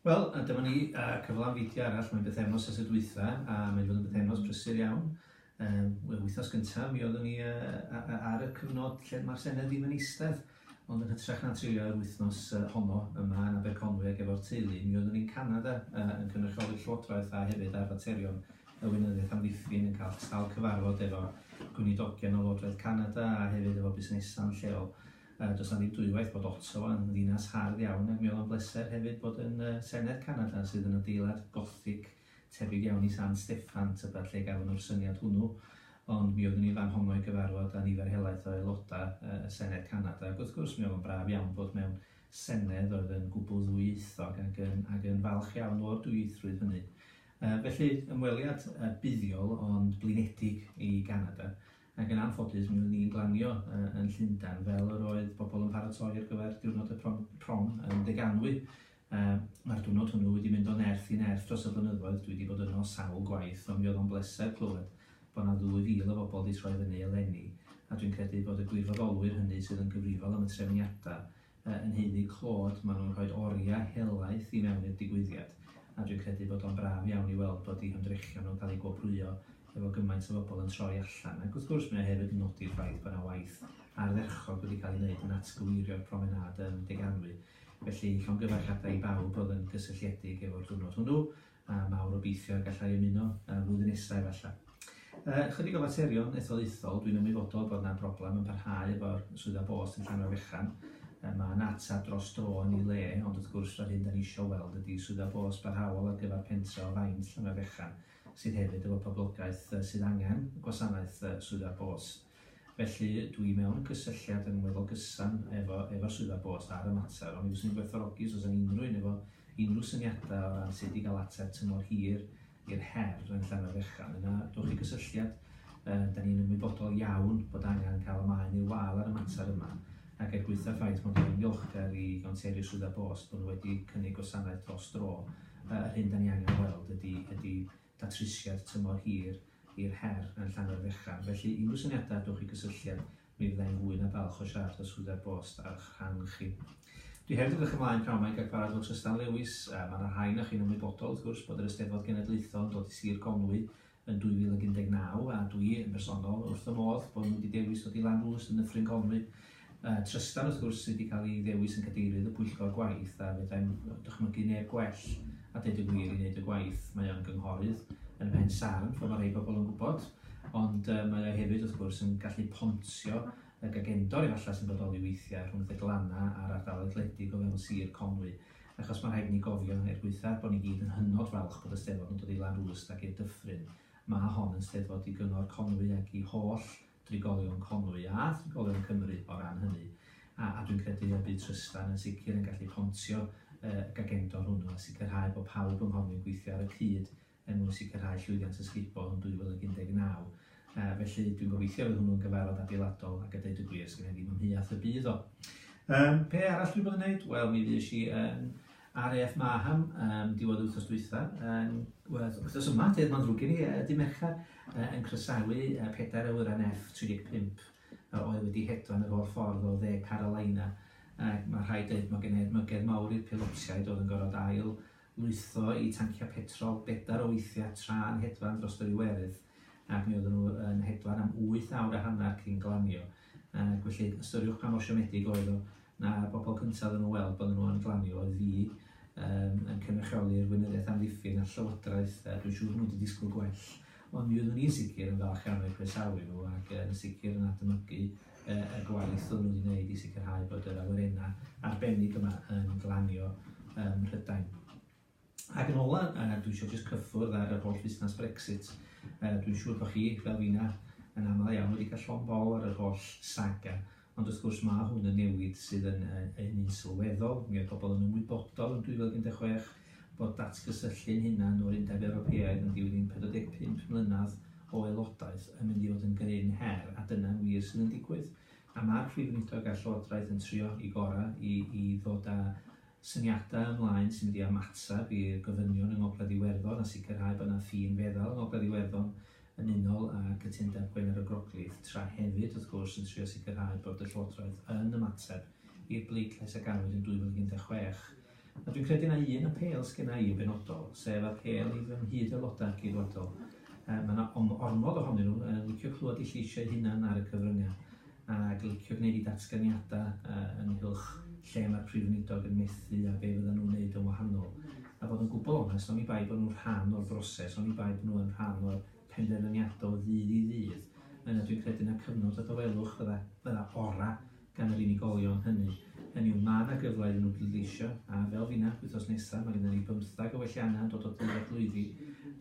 Wel, a dyma ni, a cyflan fideo arall, mae'n bythefnos ers y dwytha, a mae'n fod yn bythefnos brysur iawn. Um, Wel, wythnos gyntaf, mi oeddwn ni uh, ar y cyfnod lle mae'r Senedd ddim yn eistedd, ond yn hytrach na treulio yr wythnos uh, honno yma yn Aberconwy ac efo'r teulu, mi oeddwn ni'n Canada uh, yn cynrychioli'r Llywodraeth a hefyd ar faterion y Weinyddiaeth Amddiffyn yn cael sawl cyfarfod efo gwynidogion o Lywodraeth Canada a hefyd efo busnesau'n lleol. Yy, does 'na ddim dwywaith bod Ottawa yn ddinas hardd iawn, ac mi oedd o'n bleser hefyd bod yn yy Senedd Canada, sydd yn adeilad Gothic tebyg iawn i San Steffan, tybed lle gafon nhw'r syniad hwnnw, ond mi oeddwn i fan honno i gyfarfod â nifer helaeth o aelodau yy y Senedd Canada, ac wrth gwrs mi oedd o'n braf iawn bod mewn Senedd oedd yn gwbl ddwyieithog ac yn ac yn falch iawn o'r dwyieithrwydd hynny. Yy felly, ymweliad yy buddiol ond blinedig i Ganada, Ac yn anffodus, mi oeddwn i'n glanio yn Llundain, fel yr oedd pobl yn paratoi ar gyfer diwrnod y prom, prom yn Deganwy. Mae'r diwrnod hwnnw wedi mynd o nerth i nerth dros y blynyddoedd, dwi wedi bod yno sawl gwaith, ond mi oedd o'n bleser clywed bod 'na ddwy fil o bobl wedi troi fyny eleni, a dwi'n credu bod y gwirfoddolwyr hynny sydd yn gyfrifol am y trefniadau Yy yn nheulu Claude ma nhw'n rhoid oriau helaeth i mewn i'r digwyddiad a dwi'n credu bod o'n braf iawn i weld bod eu hymdrechion nhw'n cael eu gwobrwyo efo gymaint o fobl yn troi allan ac wrth gwrs mae o hefyd yn nodi'r ffaith bod 'na waith ardderchog wedi cael ei wneud yn atgyweirio'r promenâd yn Deganwy felly llongyfarchiadau i bawb oedd yn gysylltiedig efo'r diwrnod hwnnw a mawr obeithio y gallai ymuno y flwyddyn nesaf efallai. Yy, chydig o faterion etholaethol, dwi'n ymwybodol bod yna broblem yn parhau efo'r swyddfa bost yn Llanfair Fechan. Yy, mae yna ateb dros dro yn ei le, ond wrth gwrs yr hyn da ni eisiau weld ydi swyddfa bost barhaol ar gyfer pentre o faint Llanfair Fechan, sydd hefyd efo poblogaeth yy sydd angen gwasanaeth yy swyddfa'r bost. Felly, dw i mewn cysylltiad yn weddol gyson efo efo Swyddfa Bost ar y mater, ond mi fyswn i'n gwerthfawrogi os oes gen unrhyw un efo unrhyw syniadau o ran sut i gael ateb tymor hir i'r her yn Llanfairfechan, yna dowch i gysylltiad. Yym, 'da ni'n ymwybodol iawn bod angen cael y maen i'r wal ar y mater yma, ac er gwaetha'r ffaith mod i'n ddiolchgar i Gonteri a Swyddfa Bost bod nhw wedi cynnig gwasanaeth dros dro, yy yr hyn 'da ni angen ei weld ydi ydi datrysiad tymor hir i'r her yn Llanfairfechan, felly unrhyw syniadau dowch i gysylltiad, mi fydda i'n fwy na balch o siarad â Swyddfa'r Bost a'ch rhan chi. Dwi hefyd yn edrych ymlaen pnawn 'ma i gael cyfarfod efo Trystan Lewis, a mae 'na rhai onoch chi'n ymwybodol, wrth gwrs, bod yr Eisteddfod Genedlaethol yn dod i Sir Conwy yn 2019, a dwi, yn bersonol, wrth fy modd bod nhw wedi dewis dod i Lanrwst yn Nyffryn Conwy. Trystan wrth gwrs sydd wedi cael ei ddewis yn Gadeirydd y Pwyllgor Gwaith a fedrai'm dychmygu neb gwell a deud y gwir i wneud y gwaith. Mae o'n gynghorydd yn y Pen Sarn fel mae rhai bobl yn gwybod ond mae o hefyd wrth gwrs yn gallu pontio y gagendor efallai sy'n bodoli weithiau rhwng y glanna a'r ardaloedd gwledig o fewn Sir Conwy achos mae rhaid i ni gofio, er gwaethaf bod ni gyd yn hynod falch bod y Steddfod yn dod i Lanrwst ac i'r Dyffryn mae hon yn Steddfod i Gyngor Conwy ac i holl drigolion Conwy a thrigolion Cymru o ran hynny, a, a dwi'n credu y bydd Trystan yn sicr yn gallu pontio y gagendor hwnnw a sicrhau bod pawb yng Nghonwy'n gweithio ar y cyd er mwyn sicrhau llwyddiant ysgubol yn 2019. Uh, felly dwi'n gobeithio fydd hwnnw'n gyfarfod adeiladol ac a dweud y gwir, sgynna ddim ymheuaeth y bydd o. Um, pe arall dwi'n bod yn gwneud? Wel, mi fues i yn RAF Marham um, diwedd wythnos dwytha, um, wythnos yma, dedd mae'n ddrwg i ni, uh, dim mercher, uh, yn croesawu uh, pedair awyran F-35 uh, oedd wedi hedfan yr o'r ffordd o dde Carolina. Uh, mae rhai dweud mae gen edmygedd mawr i'r pilotiaid oedd yn gorfod ail lwytho i tanciau petrol bedair o weithiau tra'n hedfan dros yr Iwerydd. ac mi oedden nhw yn hedfan am wyth awr a hanner cyn glanio, ac felly ystyriwch pa mor siomedig oedd o na bobl cyntaf oedden nhw weld bod nhw yn glanio oedd fi um, yn cynrychioli'r weinyddiaeth amddiffyn a llywodraeth, a dwi'n siŵr nhw wedi disgwyl gwell, ond mi oeddwn ni'n sicr yn falch iawn o'i croesawu nhw ac yn sicr yn admygu uh, y gwaith oedden nhw wedi gwneud i sicrhau bod yr awyrennau arbennig yma yn glanio um, Rhydain. Ac yn ola, a dwi eisiau jyst cyffwrdd ar yr holl fusnes Brexit. Uh, dwi'n siŵr bod chi, fel fi'na, yn aml iawn wedi cael llon bol ar yr holl saga. Ond wrth gwrs mae hwn yn newid sydd yn uh, yn un sylweddol. Mi oedd pobl yn ymwybodol yn 2016 bod datgysylltu'n hunan o'r Undeb Ewropeaidd yn dilyn 45 mlynedd o aelodaeth yn mynd i fod yn gryn her, a dyna'n wir sydd yn digwydd. A mae'r Prif Weinidog a'r Llywodraeth yn trio i gorau i, i ddod â syniadau ymlaen sy'n mynd i ymateb i'r gofynion yng Ngogledd Iwerddon a sicrhau bod yna ffin feddal yng Ngogledd Iwerddon yn unol â cytundeb Gwener y Groglith, tra hefyd, wrth gwrs, yn trio sicrhau bod y Llywodraeth yn ymateb i'r bleidlais a gafwyd yn 2016. A dwi'n credu na un apêl sgenna i yn benodol, sef apêl i fy nghyd-Aelodau Ceidwadol. Mae yna ormod ohonyn nhw yn licio clywed eu lleisiau hunan ar y cyfryngau. ac licio gwneud eu datganiadau yng nghylch lle mae'r Prif Weinidog yn methu a be fyddan nhw'n wneud yn wahanol. A bod yn gwbl onest, oni bai bod nhw'n rhan o'r broses, oni bai bod nhw yn rhan o'r penderfyniadau o ddydd i ddydd, yna dwi'n credu na cyfnod a dawelwch fydda, fydda ora' gan yr unigolion hynny. Hynny yw, mae yna gyfle iddyn nhw bleidleisio, a fel finach, wythnos nesaf, mae gennym ni bymthag o welliannau yn dod o ddydd at lwyddi.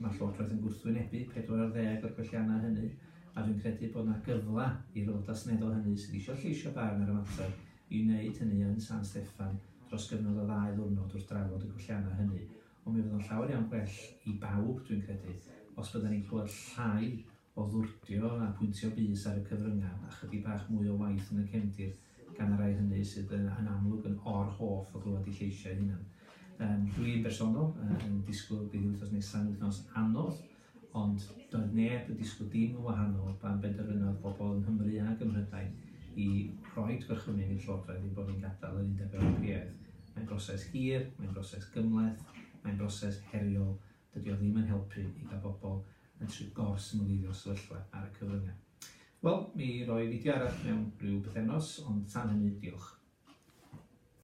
Mae Llywodraeth yn gwrthwynebu pedwar ar ddeg o'r gwelliannau hynny, A dwi'n credu bod 'na gyfle i'r Aelodau Seneddol hynny sydd eisiau lleisio barn ar y mater i wneud hynny yn San Steffan dros gyfnod o ddau ddiwrnod wrth drafod y gwelliannau hynny. Ond mi fydd o'n llawer iawn gwell i bawb, dwi'n credu, os byddan ni'n clywed llai o ddwrdio a pwyntio bys ar y cyfryngau a chydig bach mwy o waith yn y cefndir gan y rhai hynny sydd yn amlwg yn or-hoff o glywed eu lleisiau eu hunain. Dwi'n bersonol yn disgwyl bydd wythnos nesaf yn wythnos anodd Ond doedd neb yn disgwyl dim yn wahanol pan benderfynodd bobl yng Nghymru ac ym Mhrydain i roi gorchymyn i'r Llywodraeth ein bod ni'n gadael yr Undeb Ewropeaidd. Mae'n broses hir, mae'n broses gymhleth, mae'n broses heriol, dydy o ddim yn helpu i gael bobl yn trio gor-symleiddio'r sefyllfa ar y cyfryngau. Wel, mi roi fideo arall mewn rhyw bythefnos, ond tan hynny, diolch.